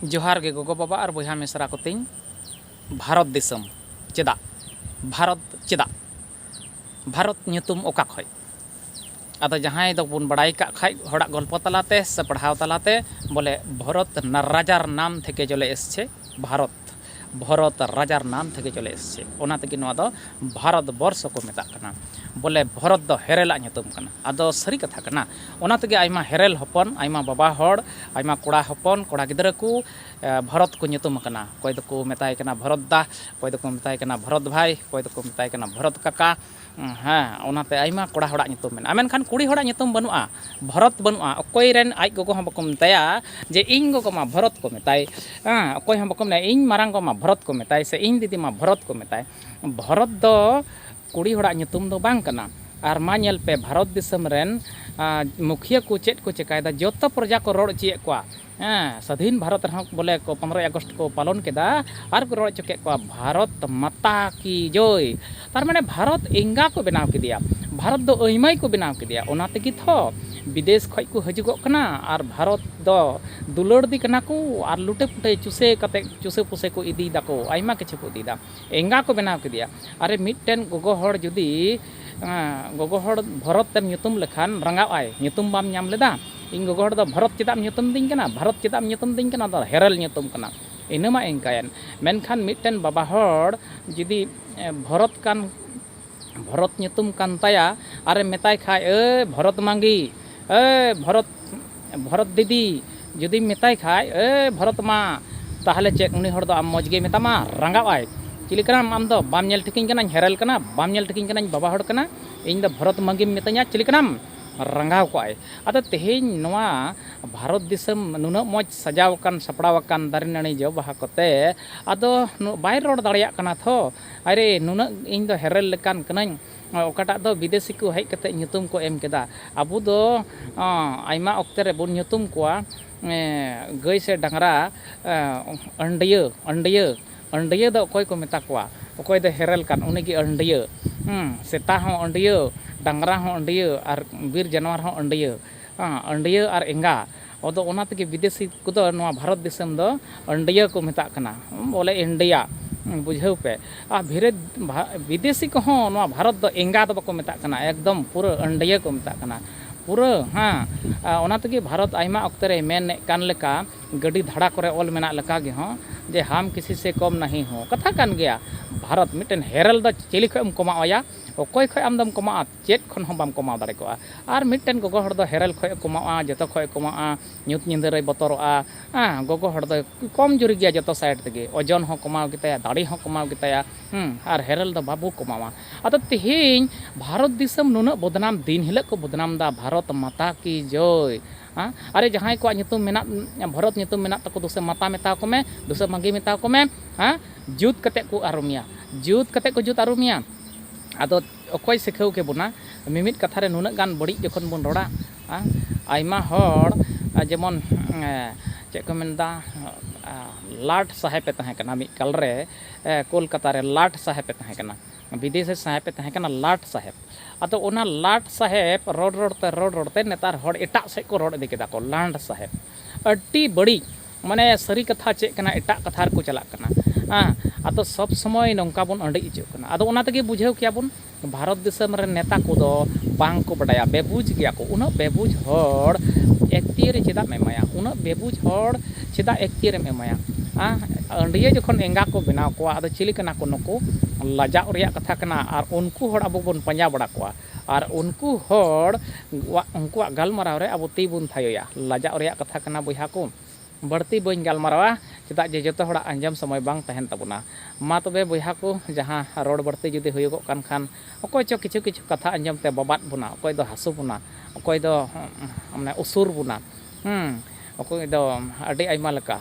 ᱡᱚᱦᱟᱨ ᱜᱮ ᱜᱚᱜᱚ ᱵᱟᱵᱟ ᱟᱨ ᱵᱚᱭᱦᱟ ᱢᱤᱥᱨᱟ ᱠᱚ ᱛᱤᱧ ᱵᱷᱟᱨᱚᱛ ᱫᱤᱥᱚᱢ ᱪᱮᱫᱟᱜ ᱵᱷᱟᱨᱚᱛ ᱪᱮᱫᱟᱜ ᱵᱷᱟᱨᱚᱛ ᱧᱩᱛᱩᱢ ᱚᱠᱟ ᱠᱷᱚᱡ ᱟᱫᱚ ᱡᱟᱦᱟᱸᱭ ᱫᱚ ᱵᱚᱱ ᱵᱟᱲᱟᱭ ᱠᱟᱜ ᱠᱷᱟᱡ ᱦᱚᱲᱟᱜ ᱜᱚᱞᱯᱚ ᱛᱟᱞᱟᱛᱮ ᱥᱮ ᱯᱟᱲᱦᱟᱣ ᱛᱟᱞᱟᱛᱮ ᱵᱚᱞᱮ ᱵᱷᱚᱨᱚᱛ ᱨᱟᱡᱟᱨ ᱱᱟᱢ ᱛᱷᱮᱠᱮ ᱪᱚᱞᱮ ᱮᱥᱪᱷᱮ ᱵᱷᱟᱨᱚᱛ ᱵᱷᱚᱨᱚᱛ ᱨᱟᱡᱟᱨ ᱱᱟᱢ ᱛᱷᱮᱠᱮ ᱪᱚᱞᱮ ᱮᱥᱪᱷᱮ ᱚᱱᱟ ᱛᱮᱜᱮ ᱱᱚᱣᱟ ᱫᱚ ᱵᱷᱟᱨᱚᱛ ᱵᱚᱨᱥᱚ ᱠᱚ ᱢᱮᱛᱟᱜ ᱠᱟᱱᱟ ᱵᱚᱞᱮ ᱵᱷᱚᱨᱚᱛ ᱫᱚ ᱦᱮᱨᱮᱞ ᱟᱜ ᱧᱩᱛᱩᱢ ᱠᱟᱱᱟ ᱟᱫᱚ ᱥᱟᱹᱨᱤ ᱠᱟᱛᱷᱟ ᱠᱟᱱᱟ ᱚᱱᱟ ᱛᱮᱜᱮ ᱟᱭᱢᱟ ᱦᱮᱨᱮᱞ ᱦᱚᱯᱚᱱ ᱟᱭᱢᱟ ᱵᱟᱵᱟ ᱦᱚᱲ ᱟᱭᱢᱟ ᱠᱚᱲᱟ ᱦᱚᱯᱚᱱ ᱠᱚᱲᱟ ᱜᱤᱫᱽᱨᱟᱹ ᱠᱚ ᱵᱷᱚᱨᱚᱛ ᱠᱚ ᱧᱩᱛᱩᱢ ᱟᱠᱟᱱᱟ ᱚᱠᱚᱭ ᱫᱚᱠᱚ ᱢᱮᱛᱟᱭ ᱠᱟᱱᱟ ᱵᱷᱚᱨᱚᱛ ᱫᱟ ᱚᱠᱚᱭ ᱫᱚᱠᱚ ᱢᱮᱛᱟᱭ ᱠᱟᱱᱟ ᱵᱷᱚᱨᱚᱛ ᱵᱷᱟᱭ ᱚᱠᱚᱭ ᱫᱚᱠᱚ ᱢᱮᱛᱟᱭ ᱠᱟᱱᱟ ᱵᱷᱚᱨᱚᱛ ᱠᱟᱠᱟ ᱦᱮᱸ ᱚᱱᱟᱛᱮ ᱟᱭᱢᱟ ᱠᱚᱲᱟ ᱦᱚᱲᱟᱜ ᱧᱩᱛᱩᱢ ᱢᱮᱱᱟᱜᱼᱟ ᱢᱮᱱᱠᱷᱟᱱ ᱠᱩᱲᱤ ᱦᱚᱲᱟᱜ ᱧᱩᱛᱩᱢ ᱵᱟᱹᱱᱩᱜᱼᱟ ᱵᱷᱚᱨᱚᱛ ᱵᱟᱹᱱᱩᱜᱼᱟ ᱚᱠᱚᱭ ᱨᱮᱱ ᱟᱡ ᱜᱚᱜᱚ ᱦᱚᱸ ᱵᱟᱠᱚ ᱢᱮᱛᱟᱭᱟ ᱡᱮ ᱤᱧ ᱜᱚᱜᱚ ᱢᱟ ᱵᱷᱚᱨᱚᱛ ᱠᱚ ᱢᱮᱛᱟᱭ ᱦᱮᱸ ᱚᱠᱚᱭ ᱦᱚᱸ ᱵᱟᱠᱚ ᱢᱮᱱᱟ ᱤᱧ ᱢᱟᱨᱟᱝ ᱜᱚ ᱢᱟ ᱵᱷᱚᱨᱚᱛ ᱠᱚ ᱢᱮᱛᱟᱭ ᱥᱮ ᱤᱧ ᱫᱤᱫᱤ ᱢᱟ ᱵᱷᱚᱨᱚᱛ ᱠᱚ ᱢᱮᱛᱟᱭ ᱵᱷᱚᱨᱚᱛ ᱫᱚ ᱠᱩᱲᱤ ᱦᱚᱲᱟᱜ ᱧᱩᱛᱩᱢ ᱫᱚ ᱵᱟᱝ ᱠᱟᱱᱟ ᱟᱨ ᱢᱟ ᱧᱮᱞ ᱯᱮ ᱵᱷᱟᱨᱚᱛ ᱫᱤᱥᱚᱢ ᱨᱮᱱ ᱢᱩᱠᱷᱤᱭᱟᱹ ᱠᱚ ᱪᱮᱫ ᱠᱚ ᱪᱤᱠᱟᱹᱭᱮᱫᱟ ᱡᱚᱛᱚ ᱯᱨᱚᱡᱟ ᱠᱚ ᱨᱚᱲ ᱦᱚᱪᱚᱭᱮᱫ ᱠᱚᱣᱟ ᱦᱮᱸ ᱥᱟᱫᱷᱤᱱ ᱵᱷᱟᱨᱚᱛ ᱨᱮᱦᱚᱸ ᱵᱚᱞᱮ ᱠᱚ ᱯᱚᱱᱨᱚᱭ ᱟᱜᱚᱥᱴ ᱠᱚ ᱯᱟᱞᱚᱱ ᱠᱮᱫᱟ ᱟᱨ ᱠᱚ ᱨᱚᱲ ᱦᱚᱪᱚ ᱠᱮᱫ ᱠᱚᱣᱟ ᱵᱷᱟᱨᱚᱛ ᱢᱟᱛᱟ ᱠᱤ ᱡᱚᱭ ᱛᱟᱨ ᱢᱟᱱᱮ ᱵᱷᱟᱨᱚᱛ ᱮᱸᱜᱟ ᱠᱚ ᱵᱮᱱᱟᱣ ᱠᱮᱫᱮᱭᱟ ᱵᱷᱟᱨᱚᱛ ᱫᱚ ᱟᱹᱭᱢᱟᱹᱭ ᱠᱚ ᱵᱮᱱᱟᱣ ᱠᱮᱫᱮᱭᱟ ᱚᱱᱟ ᱛᱮᱜᱮ ᱛᱷᱚ ᱵᱤᱫᱮᱥ ᱠᱷᱚᱱ ᱠᱚ ᱦᱤᱡᱩᱜᱚᱜ ᱠᱟᱱᱟ ᱟᱨ ᱵᱷᱟᱨᱚᱛ ᱫᱚ ᱫᱩᱞᱟᱹᱲ ᱫᱮ ᱠᱟᱱᱟ ᱠᱚ ᱟᱨ ᱞᱩᱴᱮ ᱯᱩᱴᱮ ᱪᱩᱥᱮ ᱠᱟᱛᱮᱫ ᱪᱩᱥᱮ ᱯᱩᱥᱮ ᱠᱚ ᱤᱫᱤᱭ ᱫᱟᱠᱚ ᱟᱭᱢᱟ ᱠᱤᱪᱷᱩ ᱠᱚ ᱤᱫᱤᱭ ᱫᱟ ᱮᱸᱜᱟ ᱠᱚ ᱵᱮᱱᱟᱣ ᱠᱮᱫᱮᱭᱟ᱾ ᱟᱨᱮ ᱢᱤᱫᱴᱮᱱ ᱜᱚᱜᱚ ᱦᱚᱲ ᱡᱩᱫᱤ ᱜᱚᱜᱚ ᱦᱚᱲ ᱵᱷᱚᱨᱚᱛ ᱮᱢ ᱧᱩᱛᱩᱢ ᱞᱮᱠᱷᱟᱱ ᱨᱟᱸᱜᱟᱣ ᱟᱭ ᱧᱩᱛᱩᱢ ᱵᱟᱢ ᱧᱟᱢ ᱞᱮᱫᱟ? ᱤᱧ ᱜᱚᱜᱚ ᱦᱚᱲ ᱫᱚ ᱵᱷᱚᱨᱚᱛ ᱪᱮᱫᱟᱜ ᱮᱢ ᱧᱩᱛᱩᱢ ᱟᱫᱤᱧ ᱠᱟᱱᱟ? ᱵᱷᱟᱨᱚᱛ ᱪᱮᱫᱟᱜ ᱮᱢ ᱧᱩᱛᱩᱢ ᱟᱫᱤᱧ ᱠᱟᱱᱟ? ᱚᱱᱟ ᱫᱚ ᱦᱮᱨᱮᱞ ᱧᱩᱛᱩᱢ ᱠᱟᱱᱟ᱾ ᱤᱱᱟᱹ ᱢᱟ ᱮᱸᱜᱟᱭᱮᱱ᱾ ᱢᱮᱱᱠᱷᱟᱱ ᱢᱤᱫᱴᱮᱱ ᱵᱟᱵᱟ ᱦᱚᱲ ᱡᱩᱫᱤ ᱵᱷᱚᱨᱚᱛ ᱠᱟᱱ᱾ ᱵᱷᱚᱨᱚᱛ ᱧᱩᱛᱩᱢ ᱠᱟᱱ ᱛᱟᱭᱟ ᱟᱨᱮᱢ ᱢᱮᱛᱟᱭ ᱠᱷᱟᱡ ᱮ ᱵᱷᱚᱨᱚᱛ ᱢᱟᱺᱜᱤ ᱮ ᱵᱷᱚᱨᱚᱛ ᱵᱷᱚᱨᱚᱛ ᱫᱤᱫᱤ ᱡᱩᱫᱤᱢ ᱢᱮᱛᱟᱭ ᱠᱷᱟᱡ ᱮ ᱵᱷᱚᱨᱚᱛ ᱢᱟ ᱛᱟᱦᱚᱞᱮ ᱪᱮᱫ ᱩᱱᱤ ᱦᱚᱲ ᱫᱚ ᱟᱢ ᱢᱚᱡᱽ ᱜᱮᱭ ᱢᱮᱛᱟᱢᱟ ᱨᱟᱸᱜᱟᱣ ᱟᱭ ᱪᱤᱞᱤ ᱠᱟᱱᱟᱢ ᱟᱢ ᱫᱚ ᱵᱟᱢ ᱧᱮᱞ ᱴᱷᱤᱠᱟᱹᱧ ᱠᱟᱱᱟ ᱦᱮᱨᱮᱞ ᱠᱟᱱᱟ ᱵᱟᱢ ᱧᱮᱞ ᱴᱷᱤᱠᱟᱹᱧ ᱠᱟᱱᱟ ᱤᱧ ᱵᱟᱵᱟ ᱦᱚᱲ ᱠᱟᱱᱟ ᱤᱧ ᱫᱚ ᱵᱷᱚᱨᱚᱛ ᱢᱟᱺᱜᱤᱢ ᱢᱤᱛᱟᱹᱧᱟ ᱪᱤᱞᱤ ᱠᱟᱱᱟᱢ ᱨᱟᱸᱜᱟᱣ ᱠᱚᱜ ᱟᱭ ᱟᱫᱚ ᱛᱮᱦᱮᱧ ᱱᱚᱣᱟ ᱵᱷᱟᱨᱚᱛ ᱫᱤᱥᱚᱢ ᱱᱩᱱᱟᱹᱜ ᱢᱚᱡᱽ ᱥᱟᱡᱟᱣ ᱟᱠᱟᱱ ᱥᱟᱯᱲᱟᱣ ᱟᱠᱟᱱ ᱫᱟᱨᱮ ᱱᱟᱹᱲᱤ ᱡᱚ ᱵᱟᱦᱟ ᱠᱚᱛᱮ ᱟᱫᱚ ᱵᱟᱭ ᱨᱚᱲ ᱫᱟᱲᱮᱭᱟᱜ ᱠᱟᱱᱟ ᱛᱷᱚ ᱟᱨᱮ ᱱᱩᱱᱟᱹᱜ ᱤᱧ ᱫᱚ ᱦᱮᱨᱮᱞ ᱞᱮᱠᱟᱱ ᱠᱟᱹᱱᱟᱹᱧ ᱚᱠᱟᱴᱟᱜ ᱫᱚ ᱵᱤᱫᱮᱥᱤ ᱠᱚ ᱦᱮᱡ ᱠᱟᱛᱮ ᱧᱩᱛᱩᱢ ᱠᱚ ᱮᱢ ᱠᱮᱫᱟ ᱟᱵᱚ ᱫᱚ ᱟᱭᱢᱟ ᱚᱠᱛᱮ ᱨᱮ ᱵᱚᱱ ᱧᱩᱛᱩᱢ ᱠᱚᱣᱟ ᱜᱟᱹᱭ ᱥᱮ ᱰᱟᱝᱨᱟ ᱟᱹᱱᱰᱤᱭᱟᱹ ᱟᱹᱱᱰᱤᱭᱟᱹ ᱟᱹᱱᱰᱤᱭᱟᱹ ᱫᱚ ᱚᱠᱚᱭ ᱠᱚ ᱢᱮᱛᱟ ᱠᱚᱣᱟ ᱚᱠᱚᱭ ᱫᱚ ᱦᱮᱨᱮᱞ ᱠᱟᱱ ᱩᱱᱤ ᱜᱮ ᱟᱹᱱᱰᱤᱭᱟᱹ ᱥᱮᱛᱟ ᱦᱚᱸ ᱟᱹᱱᱰᱤᱭᱟᱹ ᱰᱟᱝᱨᱟ ᱦᱚᱸ ᱟᱹᱱᱰᱤᱭᱟᱹ ᱟᱨ ᱵᱤᱨ ᱡᱟᱱᱣᱟᱨ ᱦᱚᱸ ᱟᱹᱱᱰᱤᱭᱟᱹ ᱟᱹᱱᱰᱤᱭᱟᱹ ᱟᱨ ᱮᱸᱜᱟ ᱚᱫᱚ ᱚᱱᱟ ᱛᱮᱜᱮ ᱵᱤᱫᱮᱥᱤ ᱠᱚᱫᱚ ᱱᱚᱣᱟ ᱵᱷᱟᱨᱚᱛ ᱫᱤᱥᱚᱢ ᱫᱚ ᱟᱹᱱᱰᱤᱭᱟᱹ ᱠᱚ ᱢᱮᱛᱟᱜ ᱠᱟᱱᱟ ᱵᱚᱞᱮ ᱤᱱᱰᱤᱭᱟ ᱵᱩᱡᱷᱟᱹᱣ ᱯᱮ ᱟᱨ ᱵᱷᱤᱨᱮ ᱵᱤᱫᱮᱥᱤ ᱠᱚᱦᱚᱸ ᱱᱚᱣᱟ ᱵᱷᱟᱨᱚᱛ ᱫᱚ ᱮᱸᱜᱟ ᱫᱚ ᱵᱟᱠᱚ ᱢᱮᱛᱟᱜ ᱠᱟᱱᱟ ᱮᱠᱫᱚᱢ ᱯᱩᱨᱟᱹ ᱟᱹᱱᱰᱤᱭᱟᱹ ᱠᱚ ᱢᱮᱛᱟᱜ ᱠᱟᱱᱟ ᱯᱩᱨᱟᱹ ᱦᱮᱸ ᱚᱱᱟ ᱛᱮᱜᱮ ᱵᱷᱟᱨᱚᱛ ᱟᱭᱢᱟ ᱚᱠᱛᱮ ᱨᱮ ᱢᱮᱱᱮᱫ ᱠᱟᱱ ᱞᱮᱠᱟ ᱜᱟᱹᱰᱤ ᱫᱷᱟᱲᱟ ᱠᱚᱨᱮ ᱚᱞ ᱢᱮᱱᱟᱜ ᱞᱮᱠᱟ ᱜᱮ ᱦᱚᱸ ᱡᱮ ᱦᱟᱢ ᱠᱤᱥᱤ ᱥᱮ ᱠᱚᱢ ᱱᱟᱦᱤ ᱦᱚᱸ ᱠᱟᱛᱷᱟ ᱠᱟᱱ ᱜᱮᱭᱟ ᱵᱷᱟᱨᱚᱛ ᱢᱤᱫᱴᱮᱱ ᱦᱮᱨᱮᱞ ᱫᱚ ᱪᱤᱞᱤ ᱠᱷᱚᱱ ᱮᱢ ᱠᱚᱢᱟᱣ ᱮᱭᱟ ᱚᱠᱚᱭ ᱠᱷᱚᱱ ᱟᱢ ᱫᱚᱢ ᱠᱚᱢᱟᱜᱼᱟ ᱪᱮᱫ ᱠᱷᱚᱱ ᱦᱚᱸ ᱵᱟᱢ ᱠᱚᱢᱟᱣ ᱫᱟᱲᱮ ᱠᱚᱜᱼᱟ᱾ ᱟᱨ ᱢᱤᱫᱴᱮᱱ ᱜᱚᱜᱚ ᱦᱚᱲ ᱫᱚ ᱦᱮᱨᱮᱞ ᱠᱷᱚᱡ ᱮ ᱠᱚᱢᱟᱣᱜᱼᱟ, ᱡᱚᱛᱚ ᱠᱷᱚᱡ ᱮ ᱠᱚᱢᱟᱣᱜᱼᱟ᱾ ᱧᱩᱛ ᱧᱤᱫᱟᱹ ᱨᱮᱭ ᱵᱚᱛᱚᱨᱚᱜᱼᱟ᱾ ᱟᱸ, ᱜᱚᱜᱚ ᱦᱚᱲ ᱫᱚᱭ ᱠᱚᱢ ᱡᱩᱨᱤ ᱜᱮᱭᱟ ᱡᱚᱛᱚ ᱥᱟᱭᱤᱰ ᱛᱮᱜᱮ᱾ ᱚᱡᱚᱱ ᱦᱚᱸ ᱠᱚᱢᱟᱣ ᱜᱮᱛᱟᱭᱟ, ᱫᱟᱲᱮ ᱦᱚᱸ ᱠᱚᱢᱟᱣ ᱜᱮᱛᱟᱭᱟ᱾ ᱦᱩᱸ, ᱟᱨ ᱦᱮᱨᱮᱞ ᱫᱚ ᱵᱟᱵᱚ ᱠᱚᱢᱟᱣᱟ᱾ ᱟᱫᱚ ᱛᱮᱦᱮᱧ ᱵᱷᱟᱨᱚᱛ ᱫᱤᱥᱚᱢ ᱱᱩᱱᱟᱹᱜ ᱵᱚᱫᱽᱱᱟᱢ ᱫᱤᱱ ᱦᱤᱞᱟᱹᱜ ᱠᱚ ᱵᱚᱫᱽᱱᱟᱢ ᱫᱟ ᱵᱷᱟᱨᱚᱛ ᱢᱟᱛᱟ ᱠᱤ ᱡᱚᱭ᱾ ᱟᱸ, ᱟᱨᱮ ᱡᱟᱦᱟᱸᱭ ᱠᱚᱣᱟᱜ ᱧᱩᱛᱩᱢ ᱢᱮᱱᱟᱜ ᱵᱷᱚᱨᱚᱛ ᱧᱩᱛᱩᱢ ᱢᱮᱱᱟᱜ ᱛᱟᱠᱚ ᱫᱩᱥᱮ ᱢᱟᱛᱟ ᱢᱮᱛᱟᱣ ᱠᱚ ᱢᱮ, ᱫᱩᱥᱮ ᱢᱟᱺᱜᱷᱤ ᱢᱮᱛᱟᱣ ᱠᱚ ᱢᱮ᱾ ᱟᱸ, ᱡᱩᱛ ᱠᱟᱛᱮ ᱠᱚ ᱟᱹᱨᱩᱢᱮᱭᱟ᱾ ᱡᱩᱛ ᱠᱟᱛᱮ ᱠᱚ ᱡᱩᱛ ᱟᱹᱨᱩᱢᱮᱭᱟ᱾ ᱟᱫᱚ᱾ ᱚᱠᱚᱭ ᱥᱤᱠᱷᱟᱹᱣ ᱠᱮᱵᱚᱱᱟ ᱢᱤᱢᱤᱫ ᱠᱟᱛᱷᱟ ᱨᱮ ᱱᱩᱱᱟᱹᱜ ᱜᱟᱱ ᱵᱟᱹᱲᱤᱡ ᱡᱚᱠᱷᱚᱱ ᱵᱚᱱ ᱨᱚᱲᱟ ᱟᱭᱢᱟ ᱦᱚᱲ ᱡᱮᱢᱚᱱ ᱪᱮᱫ ᱠᱚ ᱢᱮᱱᱫᱟ ᱞᱟᱴ ᱥᱟᱦᱮᱵᱮ ᱛᱟᱦᱮᱸ ᱠᱟᱱᱟ ᱢᱤᱫ ᱠᱟᱞ ᱨᱮ ᱠᱳᱞᱠᱟᱛᱟ ᱨᱮ ᱞᱟᱴ ᱥᱟᱦᱮᱵᱮ ᱛᱟᱦᱮᱸ ᱠᱟᱱᱟ ᱵᱤᱫᱮᱥᱤ ᱥᱟᱦᱮᱵᱮ ᱛᱟᱦᱮᱸ ᱠᱟᱱᱟ ᱞᱟᱴ ᱥᱟᱦᱮᱵ ᱟᱫᱚ ᱚᱱᱟ ᱞᱟᱴ ᱥᱟᱦᱮᱵ ᱨᱚᱲ ᱨᱚᱲ ᱛᱮ ᱨᱚᱲ ᱨᱚᱲ ᱛᱮ ᱱᱮᱛᱟᱨ ᱦᱚᱲ ᱮᱴᱟᱜ ᱥᱮᱫ ᱠᱚ ᱨᱚᱲ ᱤᱫᱤ ᱠᱮᱫᱟ ᱠᱚ ᱞᱟᱱᱰ ᱥᱟᱦᱮᱵ ᱟᱹᱰᱤ ᱵᱟᱹᱲᱤᱡ ᱢᱟᱱᱮ ᱥᱟᱹᱨᱤ ᱠᱟᱛᱷᱟ ᱪᱮᱫ ᱠᱟᱱᱟ ᱮᱴᱟᱜ ᱠᱟᱛᱷᱟ ᱨᱮᱠᱚ ᱪᱟᱞᱟᱜ ᱠᱟᱱᱟ ᱦᱮᱸ ᱟᱫᱚ ᱥᱚᱵᱽ ᱥᱚᱢᱚᱭ ᱱᱚᱝᱠᱟ ᱵᱚᱱ ᱟᱺᱰᱤᱡ ᱦᱚᱪᱚᱜ ᱠᱟᱱᱟ ᱟᱫᱚ ᱚᱱᱟ ᱛᱮᱜᱮ ᱵᱩᱡᱷᱟᱹᱣ ᱠᱮᱭᱟ ᱵᱚᱱ ᱵᱷᱟᱨᱚᱛ ᱫᱤᱥᱚᱢ ᱨᱮᱱ ᱱᱮᱛᱟ ᱠᱚᱫᱚ ᱵᱟᱝ ᱠᱚ ᱵᱟᱰᱟᱭᱟ ᱵᱮᱵᱩᱡᱽ ᱜᱮᱭᱟ ᱠᱚ ᱩᱱᱟᱹᱜ ᱵᱮᱵᱩᱡᱽ ᱦᱚᱲ ᱮᱠᱪᱩᱭᱮᱞᱤ ᱪᱮᱫᱟᱜ ᱮᱢ ᱮᱢᱟᱭᱟ ᱩᱱᱟᱹᱜ ᱵᱮᱵᱩᱡᱽ ᱦᱚᱲ ᱪᱮᱫᱟᱜ ᱮᱠᱪᱩᱭᱮᱞᱤᱢ ᱮᱢᱟᱭᱟ ᱦᱮᱸ ᱟᱺᱰᱭᱟᱹ ᱡᱚᱠᱷᱚᱱ ᱮᱸᱜᱟ ᱠᱚ ᱵᱮᱱᱟᱣ ᱠᱚᱣᱟ ᱟᱫᱚ ᱪᱤᱞᱤ ᱠᱟᱱᱟ ᱠᱚ ᱱᱩᱠᱩ ᱞᱟᱡᱟᱣ ᱨᱮᱭᱟᱜ ᱠᱟᱛᱷᱟ ᱠᱟᱱᱟ ᱟᱨ ᱩᱱᱠᱩ ᱦᱚᱲ ᱟᱵᱚ ᱵᱚᱱ ᱯᱟᱸᱡᱟ ᱵᱟᱲᱟ ᱠᱚᱣᱟ ᱟᱨ ᱩᱱᱠᱩ ᱦᱚᱲ ᱣᱟᱜ ᱩᱱᱠᱩᱣᱟᱜ ᱜᱟᱞᱢᱟᱨᱟᱣ ᱨᱮ ᱟᱵᱚ ᱛᱤ ᱵᱚᱱ ᱛᱷᱟᱭᱚᱭᱟ᱾ ᱞᱟᱡᱟᱣ ᱨᱮᱭᱟᱜ ᱠᱟᱛᱷᱟ ᱠᱟᱱᱟ ᱵᱚᱭᱦᱟ ᱠᱚ᱾ ᱵᱟᱹᱲᱛᱤ ᱵᱟᱹᱧ ᱜᱟᱞᱢᱟᱨᱟᱣᱟ ᱪᱮᱫᱟᱜ ᱡᱮ ᱡᱚᱛᱚ ᱦᱚᱲᱟᱜ ᱟᱸᱡᱚᱢ ᱥᱚᱢᱚᱭ ᱵᱟᱝ ᱛᱟᱦᱮᱱ ᱛᱟᱵᱚᱱᱟ᱾ ᱢᱟ ᱛᱚᱵᱮ ᱵᱚᱭᱦᱟ ᱠᱚ ᱡᱟᱦᱟᱸ ᱨᱚᱲ ᱵᱟᱹᱲᱛᱤ ᱡᱩᱫᱤ ᱦᱩᱭᱩᱜᱚᱜ ᱠᱟᱱ ᱠᱷᱟᱱ ᱚᱠᱚᱭ ᱪᱚ ᱠᱤᱪᱷᱩ ᱠᱤᱪᱷᱩ ᱠᱟᱛᱷᱟ ᱟᱸᱡᱚᱢ ᱛᱮ ᱵᱟᱵᱟᱫ ᱵᱚᱱᱟ, ᱚᱠᱚᱭ ᱫᱚ ᱦᱟᱹᱥᱩ ᱵᱚᱱᱟ, ᱚᱠᱚᱭ ᱫᱚ ᱢᱟᱱᱮ ᱩᱥᱩᱨ ᱵᱚᱱᱟ, ᱦᱩᱸ ᱚᱠᱚᱭ ᱫᱚ ᱟᱹᱰᱤ ᱟᱭᱢᱟ ᱞᱮᱠᱟ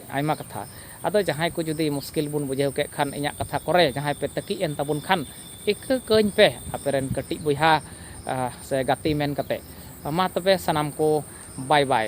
ᱟᱭᱢᱟ ᱠᱟᱛᱷᱟ᱾ ᱟᱫᱚ ᱡᱟᱦᱟᱸᱭ ᱠᱚ ᱡᱩᱫᱤ ᱢᱩᱥᱠᱤᱞ ᱵᱚᱱ ᱵᱩᱡᱷᱟᱹᱣ ᱠᱮᱫ ᱠᱷᱟᱱ ᱤᱧᱟᱜ ᱠᱟᱛᱷᱟ ᱠᱚᱨᱮ ᱡᱟᱦᱟᱸᱭ ᱯᱮ ᱛᱟᱹᱠᱤᱡ ᱮᱱ ᱛᱟᱵᱚᱱ ᱠᱷᱟᱱ ᱤᱠᱟᱹ ᱠᱟᱹᱧ ᱯᱮ ᱟᱯᱮ ᱨᱮᱱ ᱠᱟᱹᱴᱤᱡ ᱵᱚᱭᱦᱟ ᱥᱮ ᱜᱟᱛᱮ ᱢᱮᱱ ᱠᱟᱛᱮ ᱢᱟ ᱛᱚᱵᱮ ᱥᱟᱱᱟᱢ ᱠᱚ ᱵᱟᱭ ᱵᱟᱭ᱾